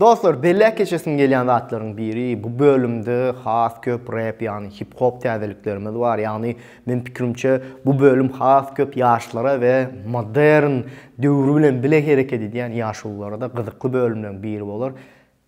Dostlar belläp geçesim gelýän zatlaryň biri bu bölümde has köp rep ýagny hip hop täzeliklerimiz bar ýagny men pikirimçe bu bölüm has köp ýaşlara we modern döwri bilen bile hereket edýän ýaşulularada gyzykly bölümleriň biri bolar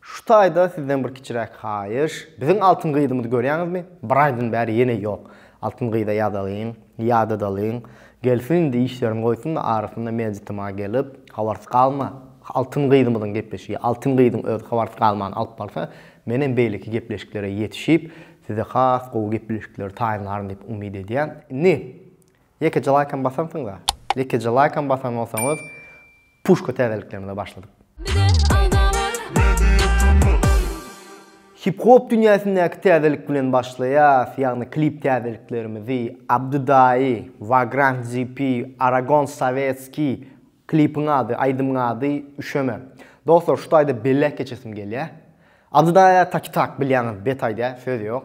şu taýda sizden bir kiçiräk haýyş biziň altyn gyzymyzy görýäňizmi bir aýdan bäri ýene ýok Altyn gyza ýazalyň, ýadadalyň, gelsin indi işlerini goýsun-da arasynda mejlisime gelip, habarsyz galma. Altyn gyzymyzyň gepleşigi, Altyn gyzyň özi habarsyz galman alyp barsa, menem beýleki gepleşiklere ýetişip, size has gowy gepleşikleri taýynlaryn diýip umyt edýän. Indi, ýekeje laýkam basansyňyz-a? Ýekeje laýkam basan bolsaňyz, Puşka täzeliklerimize başladyk. Hip-hop dünýäsindäki täzelik bilen başlaýas, ýagny klip täzeliklerimizi, Abdydaýy, Vagrant GP, Aragon Sowetskiý, klipiň ady, aýdymyň ady, Üşeme. Dostlar, şu taýda belläp geçesim gelýär. Abdydaýa taki-tak, bilýäňiz, bet aýdýar, söz ýok.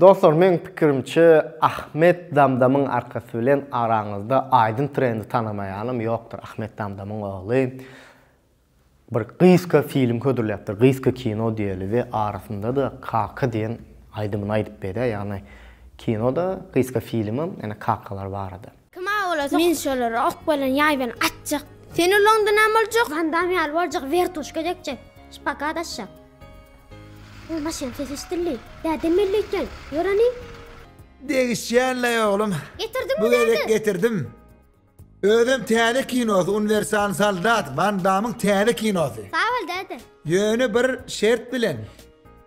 Dostlar meň pikirimçe Ahmet Damdamyň arkasy bilen araňyzda aýdym trendi tanamaýanam ýokdur Ahmet Damdamyň ogly bir gyzka film hödürläpdir gyzka kino diýeli we arasyndada kaka diýen aýdymyny aýdyp beýdä ýagny kinoda gyzka filmem ýene kakalar barada. Kim awala sok. Men şolara ok bilen ýaý bilen atjak. Sen ulaňda näme boljak? Van Damm ýaly boljak, wertuşka degjek. Şpagat aşjak. Oý maşynyň sesi eşdildi. Bärden belli eken. Ýör hany. Degişýänlaý oglum. Getirdiňmi Bu gezek bärden? getirdim. Özem täze kinosy Uniwersal soldat, Van Dammyň täze kinosy. Sag bol däde. Ýöne bir şert bilen.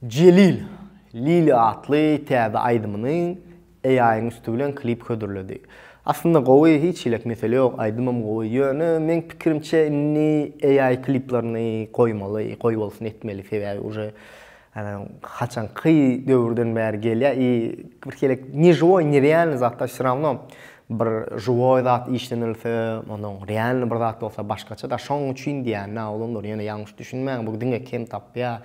Jelil, Lili atly täze aýdymyny AI-yň üsti bilen klip hödürledi. Aslynda gowy, hiç hili mesele ýok, aýdymam gowy. Ýöne, meň pikirimçe, indi AI kliplerini goýmaly, goýbolsun etmeli, sebäbi uje haçanky döwürden bäri gelýär i bir hili ne žiwoý, ne realnyý zatlar vsё rawno bir žiwoý zat işlenilse, ondan realnyý bir zat bolsa başgaça-da, şoň üçin diýýän-ä, olanlar ýöne ýalňyş düşünmäň, bu diňe kem tapýar,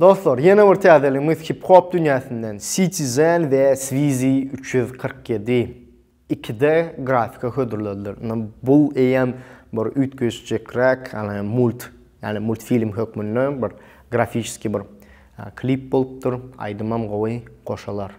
Dostlar, ýene bir täzeligimiz hip-hop dünýäsinden Citizen we Swizi üç ýüz kyrk ýedi ikide grafika hödürlediler. Ine, bu eýýäm bir üýtgeşjekräk, ýagny mult, ýagny multfilm hökmünde bir grafiçeskiý bir klip bolupdyr. Aýdymam gowy, goşalar.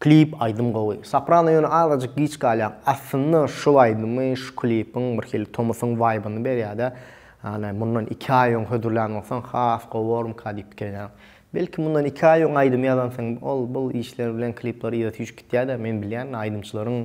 Klip aýdym gowy. Soprano ýöne azajyk giç galýaň. Aslynda şu aýdymy şu klipiň birhili tomusyň waýbyny berýärde. Ýagny mundan iki aý öň hödürlän bolsaň has gowy bormyka diýip pikirlenýän. Belki mundan iki aý öň aýdymy ýazansyň ol bul işler bilen klipler yza süýşüp gitýärde men bilýän aýdymçylaryň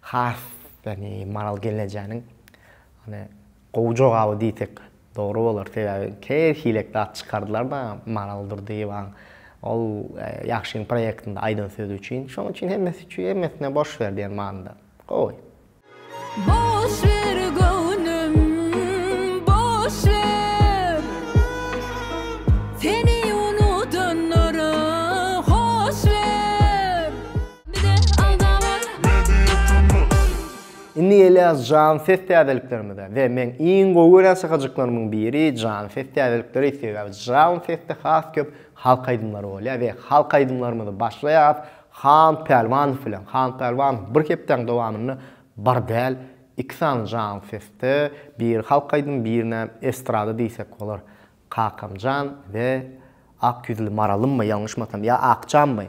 Has da ne Maral gelnejäniň ony gowy jogaby diýsek dogry bolar. Sebäbi her hilek zat çykardylar-da Maral Durdyýewaň ol Ýagşyň proýektinde aýdan sözi üçin. Şonuň üçin hemmesi üçin hemmesine boş ber diýen manyda. Gowy. Boş ber göwnüm boş ber Seni unudanlara hoş ber. Indi gelýäs jan ses täzeliklerimize we meň iň gowy görýän şakajyklarymyň biri jan ses täzelikleri sebäbi jan sesde has köp halk aýdymlary bolýar we halk aýdymlarymyzy başlaýas Han Pälwanow bilen Han Pälwanow bir hepdäň dowamynda bir däl iki sany jan sesde biri halk aýdymy birine estrada diýsek bolar Kakamjan we Ak ýüzli Maralymmy ýalňyşmasam ýa Akjanmy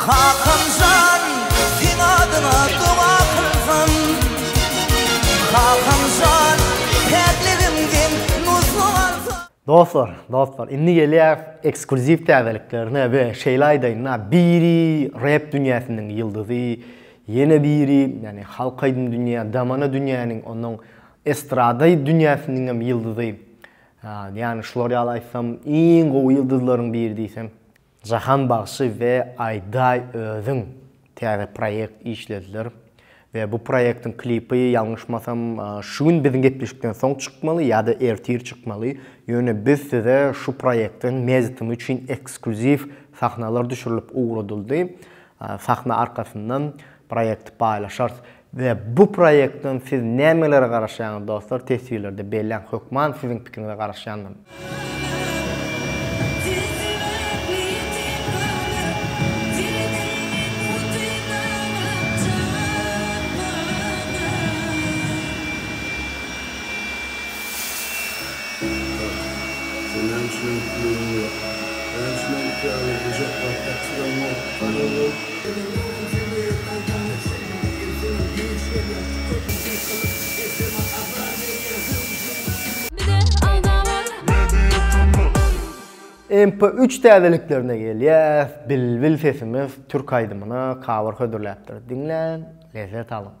Kakamjan seň adyňa doga kylsam Kakamjan päkligiňden nusga alsam. Dostlar, dostlar, indi gelýäs ekskluziw täzeliklerine we şeýle aýdaýyn-da, biri rep dünýäsiniň ýyldyzy, ýene biri, ýagny halk aýdym dünýä, damana dünýäniň, onnoň estrada dünýäsiniňem ýyldyzy, ýagny şular ýaly aýtsam, iň gowy ýyldyzlaryň biri diýsem, Jahan bagşy we Aýdaý özüň täze proýekt işlediler we bu proýektiň klipi ýalňyşmasam şu gün biziň gepleşikden soň çykmaly ýa-da ertir çykmaly, ýöne biz size şu proýektiň mejtmy üçin ekskluziw sahnalar düşürilip ugradyldy, sahna arkasyndan proýekti paýlaşarys. We bu proýektden siz nämelere garaşýaňyz dostlar teswirlerde belläň hökman siziň pikiriňize garaşýandyryn. MP üç täzeliklerine gelýäs, Bilbil sesimiz türk aýdymyna cover hödürläpdir, diňläň, lezzet alyň!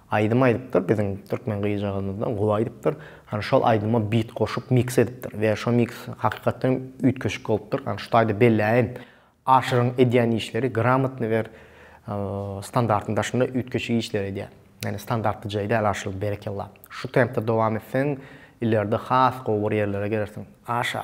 Aýdym aýdypdyr biziň türkmen gyzjagazymyzdan gowy aýdypdyr. Hany şol aýdyma bit goşup miks edipdir we şo miks hakykatdan üýtgeşik bolupdyr. Hany şu taýda belläýin. Aşyryň edýän işleri gramotny we standartyň daşynda üýtgeşik işleri edýär. Ýagny standartly jaý däl Aşyr berekella. Şu tempde dowam etseň ileride has gowy bir ýerlere gelersiň. Aşa!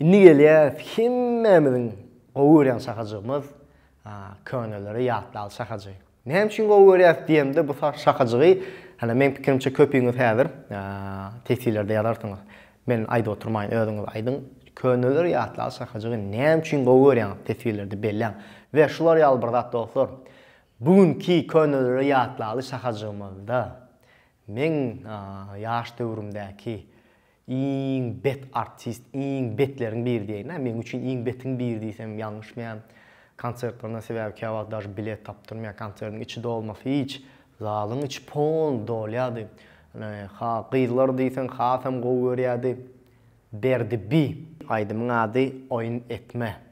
Indi gelýäris hemmämiziň gowy görýän şakajygymyz Köneleri ýatlaly şakajy. Näme üçin gowy görýäris diýemde bu şakajygy hany meň pikirimçe köpüňiz häzir teswirlerde ýazarsyňyz. Men aýdyp oturmaýyn özüňiz aýdyň. Köneleri ýatlaly şakajygy näme üçin gowy görýäňiz teswirlerde belläň. We şular ýaly bir zat dostlar. Bu günki Köneleri ýatlaly şakajygymyzda meň ýaş döwrümdäki Iň bet artist iň betleriň biri diýeýin hä meň üçin iň betiň biri diýsem ýalňyşmaýan konsertlerinden sebäbi käwagt dažy bilet tapdyrmaýan konsertiň içi dolmasy hiç zalyň içi pol dolýady ha gyzlar diýseň hasam gowy görýädi Berdi bi. Aýdymyň ady Oýun etme.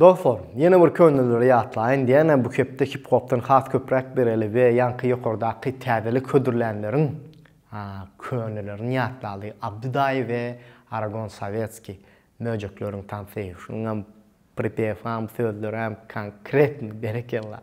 Dostlar, ýene bir könelere ýatlaýyn, diýäne bu hepde hip-hopdan has köpräk bereli we ýaňky ýokardaky täzelik hödürlänleriň könelerini ýatlaly, Abdy daýy we Aragon Sowetskiý, Möjekleriň tansy, şunuňam pripew-am, sözleräm konkretno, berekella!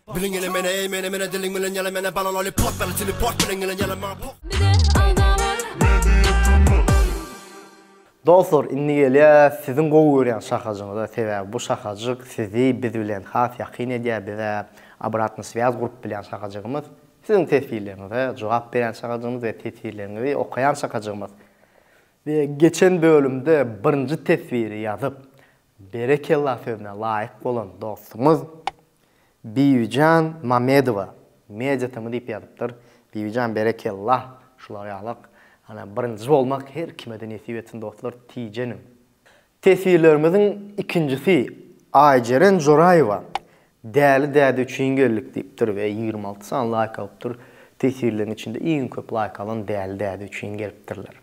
Biliň ele mene ey mene mene diliň bilen ýala mene bala loli pot bela çili pot biliň ele ýala maňa pot. Bize alda bar. Dostlar indi gelýäs siziň gowy görýän şahajyňyza sebäbi bu şahajyk sizi biz bilen has ýakyn edýär bizä obratny swýaz gurup bilýän şahajygymyz siziň teswirleriňize jogap berýän şahajygymyz we teswirleriňizi okaýan şahajygymyz we geçen bölümde birinji teswiri ýazyp Berekella sözüne laýyk bolan dostumyz Bibijan Mamedowa media tm diýip ýazypdyr. Bibijan berekella şular ýalyk ana birinji bolmak her kimede nesip etsin dostlar tijeniň. Teswirlerimiziň ikinjisi Aýjeren Joraýewa Däli däde üçin geldik diýipdir we ýigrimi alty sany laýk alypdyr. Tesirleriň içinde iň köp laýk alan Däli däde üçin gelipdirler.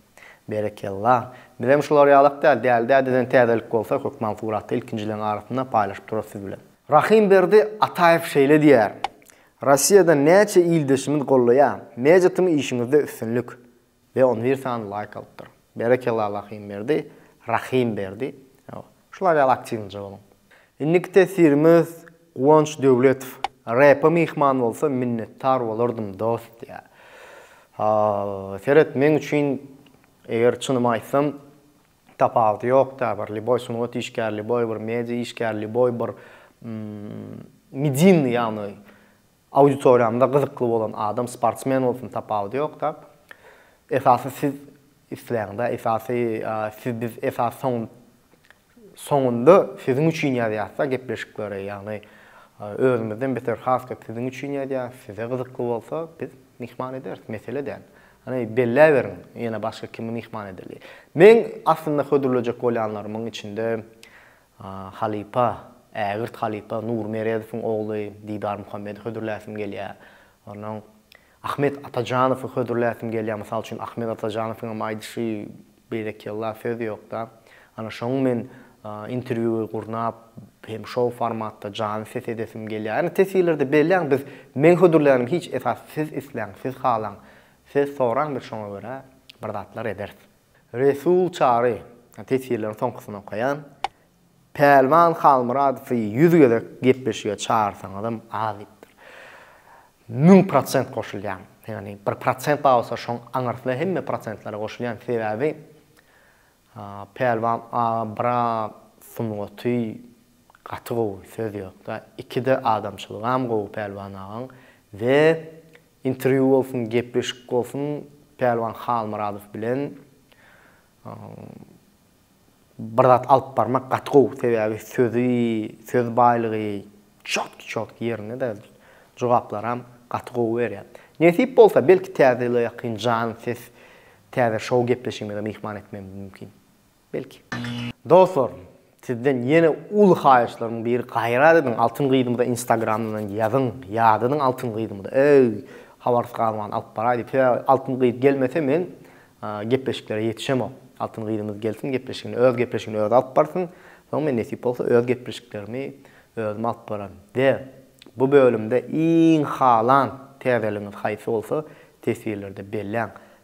Berekella. Bizem şular ýalak däl, Däli dädeden täzelik bolsa hökman suraty ilkinjileň arasynda paýlaşyp durarys siz bilen. Rahimberdi Ataýew şeýle diýýär, Rossiýadan näçe ildeşimiz gollaýar. Media tm işiňizde üstünlik. Be on bir sany laýk alypdyr. Berekella Rahimberdi, Rahym Berdi. Ýow. Şular ýaly aktiwnyja boluň. Indiki teswirimiz Guwanç Döwletow. Repa myhman bolsa minnetdar bolardym dost diýýär. Seret meň üçin eger çynymy aýtsam tapawudy ýok da bir liboý sungat işgäri liboý bir media işgäri liboý bir midinni ýagny Auditoriýamda gyzykly bolan adam sportsmen bolsun tapawudy ýokda. Esasy siz isleýäňdä esasy siz biz esasy soň soňunda siziň üçin ýazýasda gepleşikleri ýagny özümizden beter has köp siziň üçin ýazýas size gyzykly bolsa biz myhman ederis mesele däl. Hany belläberiň ýene başga kimi myhman edeli. Meň aslynda hödürlejek bolýanlarymyň içinde Halypa, ägirt halypa Nury Meredowyň ogly Didar Muhammedi hödürläsim gelýär. Onnoň Ahmet Atajanowy hödürläsim gelýär. Mysal üçin, Ahmet Atajanowyň hem aýdyşy berekella, söz ýok-da. Ana şoň men interwýu gurnap, hem şol formatda janly ses edesim gelýär. Ýöne teswirlerde belläň, biz men hödürlänim hiç esas siz isläň, siz halaň, siz soraň biz şoňa görä bir zatlar ederis. Resul Çary, teswirleriň soňkusyny okaýan, Pälwan Halmyradowy ýüz gezek gepleşige çagyrsaňyzam az diýipdir. Müň prosent goşulýan. Ýagny bir prosent bar bolsa şoň aňyrsyna hemme prosentlere goşulýan. Sebäbi Pälwan aga bira sungaty gaty gowy söz ýokda. Ikide adamçylygam gowy Pälwan agaň we Interwýu bolsun gepleşik bolsun Pälwan Halmyradow bilen bir zat alyp barmak gaty gowy sebäbi sözi söz baýlygy çotki çotki ýerinde-de jogaplaram gaty gowy berýär. Nesip bolsa belki täze ýyla ýakyn jan ses täze şou gepleşigimize myhman etmegimiz mümkin. Belki. Dostlar, sizden ýene uly haýyşlarymyň biri gaýrat ediň Altyn gyzymyza instagramyndan ýazyň, ýadadyň Altyn gyzymyza, eý, habarsyz galman alyp baraý diýip, sebäbi Altyn gyz gelmese men gepleşiklere ýetişemok. Altyn gyzymyz gelsin gepleşigini öz gepleşigini özi alyp barsyn, soň men nesip bolsa öz gepleşiklerimi özüm alyp bararyn. We bu bölümde iň halan täzeligiňiz haýsy bolsa teswirlerde belläň.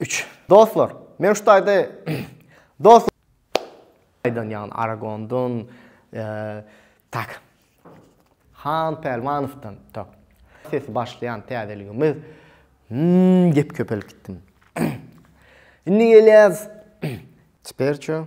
Üç. Dostlar, men şu taýda Dos aýdan ýagny Aragondun tak. Han Pälwanowdan tak. Sesi başlaýan täzeligimiz Hmmm gep köpeltdim. Indi gelýäs Çperço.